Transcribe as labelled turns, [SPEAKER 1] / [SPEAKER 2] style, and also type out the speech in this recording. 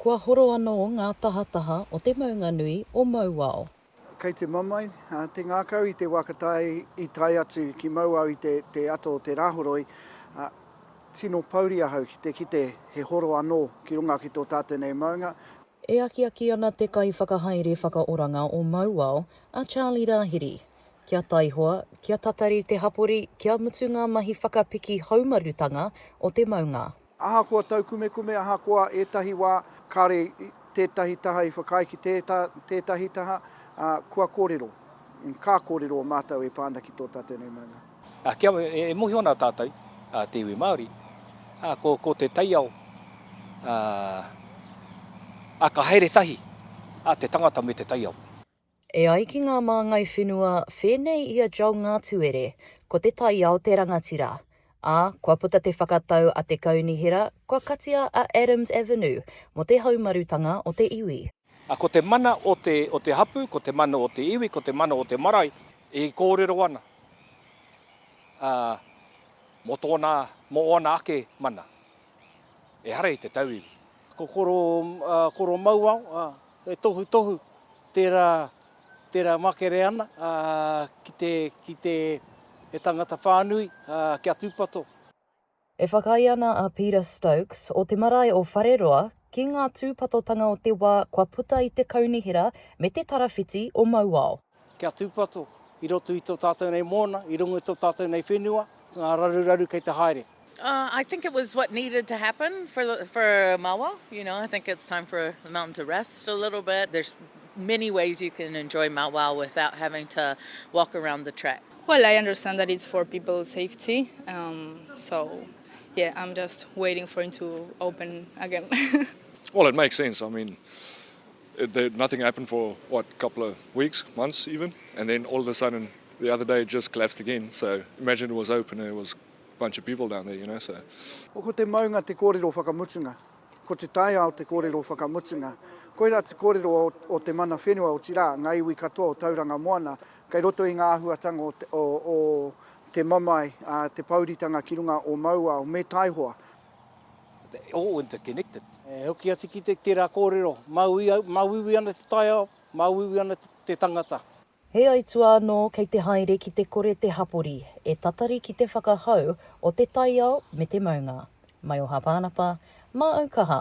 [SPEAKER 1] Kua horo anō ngā tahataha o te maunga nui o Mauao. Kei te mamae
[SPEAKER 2] te ngākau i te wā ka tae i tae atu ki Mauao i te te ata o te Rāhoroi, ā, tino pouri ahau ki te kite he horo anō ki runga ki tō tātou nei maunga. E akiaki
[SPEAKER 1] ana te Kaiwhakahaere Whakaoranga o Mauao, a Charlie Rāhiri, kia taihoa, kia tatari te hapori kia mutu ngā mahi whakapiki haumarutanga o te maunga. Ahakoa taukumekume,
[SPEAKER 2] ahakoa ētahi wā kāre tētahi taha i whakaae ki tētahi taha, ā, kua kōrero, ka kōrero o mātou e pā ana ki tō tātou nei maunga. Ā, kia e mōhio
[SPEAKER 3] ana tātou, ā, te iwi Māori, ā, ko te taiao, ā, ā, ka haere tahi, ā, te tangata me te taiao. E ai ki
[SPEAKER 1] ngā māngai whenua whēnei i a Joel Ngātuere, ko te taiao te rangatira, ā, kua puta te whakatau a te Kaunihera kua katia a Adams Avenue mō te haumarutanga o te iwi. Ā, ko te mana
[SPEAKER 3] o te, o te hapū, ko te mana o te iwi, ko te mana o te marae e kōrero ana, ā, mō tōna, mō ōna ake mana. Ehara i te tauiwi. Ko koro,
[SPEAKER 4] ā, koro mauao, ā, he tohutohu tērā, tērā makere ana, ā, ki te, ki te, he tangata whānui, ā, kia tūpato. E
[SPEAKER 1] whakaae ana a Peter Stokes, o te marae o Whareroa, ki ngā tūpatotanga o te wā kua puta i te kaunihera me te tarawhiti o mauao. Kia tūpato
[SPEAKER 4] i roto i tō tātou nei mōna, i runga i tō tātou nei whenua, ngā raruraru kei te haere. Uh I think it was
[SPEAKER 5] what needed to happen for the for Mawa you know I think it's time for the mountain to rest a little bit there's many ways you can enjoy Mount Wao without having to walk around the track. Well, I understand that
[SPEAKER 6] it's for people's safety, um, so yeah, I'm just waiting for it to open again. well, it
[SPEAKER 7] makes sense. I mean, There nothing happened for what couple of weeks, months even and then all of a sudden the other day it just collapsed again so imagine it was open and there was a bunch of people down there you know so. Ko te maunga
[SPEAKER 2] te kōrero whakamutunga. Ko te taiao te kōrero whakamutunga. Koirā te kōrero o te mana whenua otirā, ngā iwi katoa o Tauranga Moana kei roto i ngā āhuatanga o te mamae, te pōuritanga ki runga o Mauao me Taihoa. All
[SPEAKER 3] interconnected. E hoki atu ki te
[SPEAKER 4] tera korero, mauiui ana te taiao, mauiui ana te tangata. He aituā
[SPEAKER 1] anō kei te haere ki te kore te hapori e tatari ki te whakahau o te taiao me te maunga. Mai o Hāpānapa, mā Aukaha.